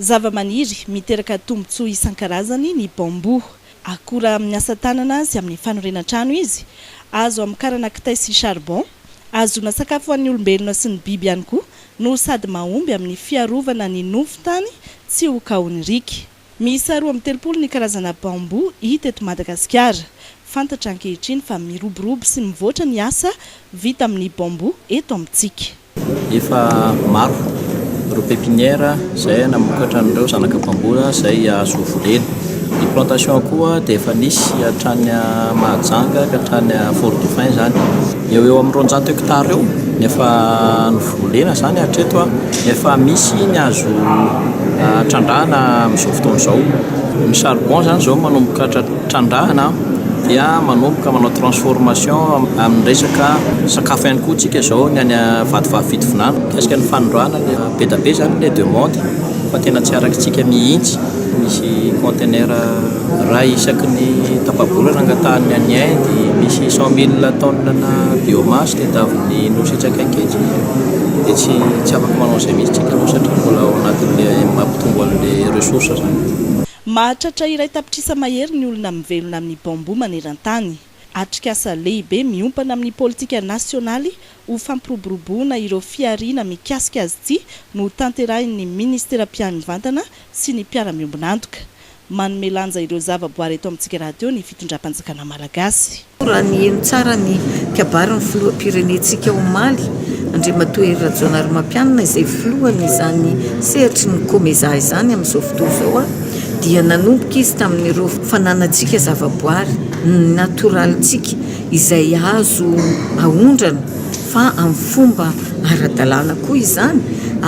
Zavamaniry miteraka tombontsoa isan-karazany ny bamboo. Akora amin'ny asa tanana sy amin'ny fanorenan-trano izy. Azo hamokarana kitay sy charbon. Ahazoana sakafo ho an'ny olombelona sy ny biby ihany koa no sady mahomby amin'ny fiarovana ny nofon-tany tsy ho kaon'ny riaka. Miisa roa amby telopolo ny karazana bambou hita eto Madagasikara. Fantatra ankehitriny fa miroborobo sy mivoatra ny asa vita amin'ny bambou eto amintsika. Efa maro ireo pepiniera izay namokatra an'ireo zanaka bambou izay azo volena. Ny plantation koa dia efa nisy hatrany Mahajanga ka hatrany Fort-Dauphin izany. Eo ho eo amin'ny roanjato hekitara eo no efa. volena izany hatreto nefa misy ny azo trandrahana amin'izao fotoana izao. Ny charbon izany izao manomboka trandrahana dia manomboka manao transformation amin'ny resaka sakafo ihany koa isika izao ny any Vatovavy Fitovinany. Mikasika ny fanondrahana dia be dia be izany ilay demande fa tena tsy araka antsika mihitsy ny misy contenaire. Raha isaky ny tapa-bolana angatahan'ny any Inde, misy cent mille tonnes-na biomasse tadiavin'ny Nosy etsy akaiky etsy, dia tsy tsy afaka manao an'izay mihitsy tsika aloha satria mbola ao anatin'ilay mampitombo an'ilay ressource izany. Mahatratra iray tapitrisa mahery ny olona mivelona amin'ny bambou maneran-tany. Atrikasa lehibe miompana amin'ny politika nasionaly ho fampiroboroboana ireo fihariana mikasika azy ity no hotanterahin'ny Ministera mpianvantana sy ny mpiara-miombon'antoka. Manome lanja ireo zava-boary eto amintsika rahateo ny fitondram-panjakana malagasy. Raha niheno tsara ny kabary ny filoham-pirenentsika omaly, Andriamatoa Hery Rajaonarimampianina, izay filohan'izany sehatry ny Comeza izany amin'izao fotoana izao aho, dia nanomboka izy tamin'ireo fananantsika zava-boary, ny natoralintsika izay azo aondrana, fa amin'ny fomba ara-dalàna koa izany,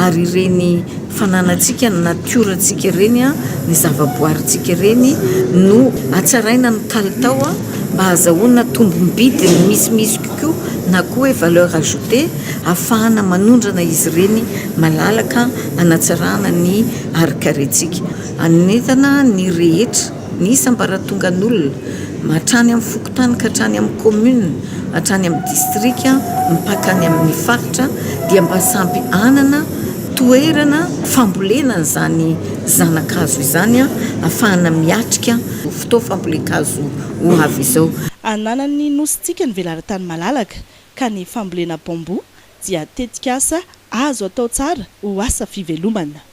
ary ireny fananantsika, ny natiorantsika ireny, ny zavaboarintsika ireny no hatsaraina ny kalitao mba hahazahoana tombom-bidiny misimisy kokoa na koa hoe valeur ajoutée hahafahana manondrana izy ireny malalaka hanatsarana ny harin-karentsika. Anentana ny rehetra. Ny sambaratongan'olona, hatrany amin'ny fokontany ka hatrany amin'ny kaominina, hatrany amin'ny distrika, mpaka any amin'ny faritra, dia mba samy hanana toerana fambolena an'izany zana-kazo izany ahafahana miatrika izao fotoam-fambolen-kazo ho avy izao. Ananan'ny Nosintsika ny velaran-tany malalaka, ka ny fambolena bambou dia tetikasa azo atao tsara ho asa fivelomana.